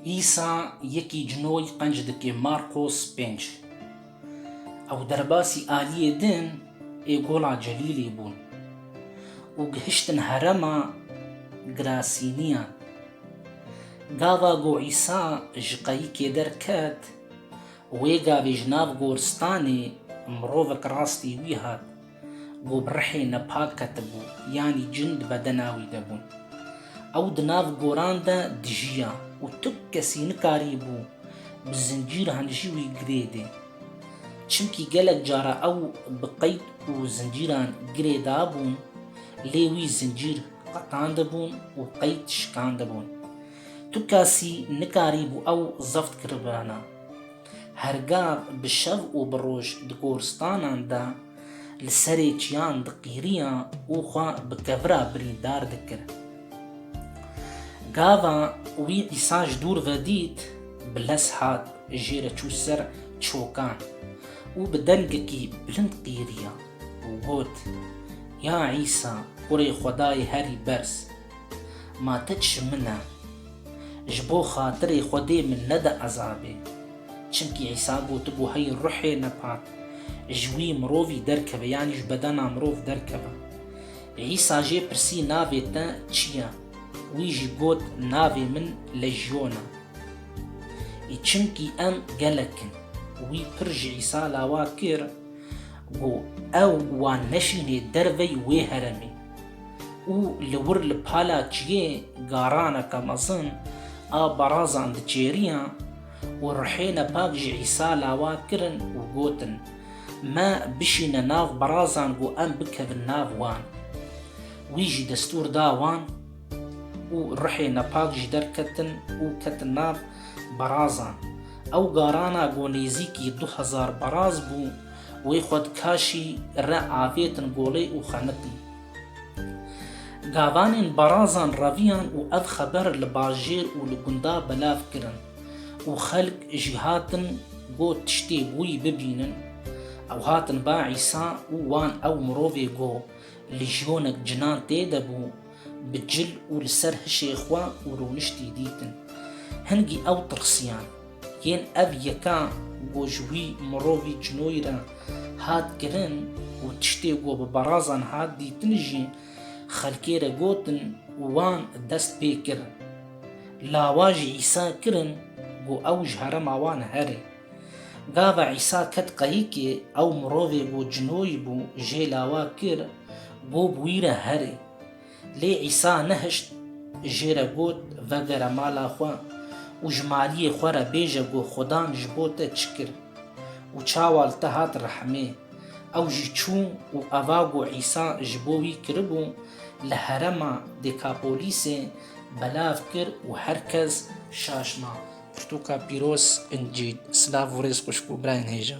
Îsa yekî cinoy qenc dike Markos pênc. Ew derbasî aliyê din ê gola Celîlê bûn û gihiştin herema Girasîniyan. Gava ku Îsa ji qeyikê derket, wê gavê ji nav goristanê mirovek rastî wî hat. Ku bi rihê nepak ketibû, yanî cin di bedena wî de bûn. Ew di nav goran de dijiya û tu kesî nikarîbû bi zincîr hanijî wî girêdê. Çimkî gelek cara ew bi qeyd û zincîran girêdabûn, lê wî zincîr qetandibûn û qeyd şikandibûn. Tu kesî nikarîbû ew zeft kiribana. Her gav bi şev û bi roj di goristanan de li serê çiyan diqîriya û xwe bi kevira birîndar dikir. Gava wî dîsa ji dûr ve dît, bi lez hat jê re çû ser çokan û bi dengekî bilind qîriya û got, Ya Îsa, Kurê Xwedayê herî berz! Ma titş min e. Ji bo xatirê Xwedê min nede ezabê. Çimkî Îsa gotibû hey ruhê nepak ji wî mirovî derkeve yanî ji bedena mirov derkeve. Îsa jê pirsî navê te çi ye? Wî jî got navê min Lejyon e. Î çimkî em gelek in. Wî pir ji Îsa lawa kir ku ew wan neşînê dervey wê heremê. û li wir li pala çiyê garaneke mezin a barazan diçêriyan û rihêne pak ji Îsa lawa kirin û gotin, Me bişîne nav barazan ku em bikevin nav wan. Wî jî destûr da wan û rihêne pak ji der ketin û ketin nav barazan. Ew garana ku nêzîkî du hezar baraz bû, wê xwe di kaşî re avêtin golê û xemitin. Gavanên Barazan reviyan û ev xeber li bajêr û li gunda belav kirin û xelk jî hatin got tiştê wî bibînin. Ew hatin ba Îsa û wan ew mirovê got li jiyonek cinan tê de bû, Bi cil û li ser hişê xwe û rûniştî dîtin. Hingî ew tirsiyan. Yên ev yeka ku ji wî mirovî cinoyî re hat kirin û tiştê ku bi berazan hat dîtin jî xelkê re gotin û wan dest pê kir. Lawajî Îsa kirin ku ew ji herema wan here. Gava Îsa ket qayikê, ew mirovê bû cinoyî bû, jê lawa kir, gob wî re herê. Lê Îsa nehişt, jê re got, Vegere mala xwe û ji maliyê xwe re bêje ku Xudan ji bo te çi kir û çawa li te hat rehmê. Ew jî çû û eva ku Îsa ji bo wî kiribû, li herema Dêkapolissê belav kir û her kes şaş ma. Pirtûka pîroz incî. Silav û rêz xwişk û birayên hêja.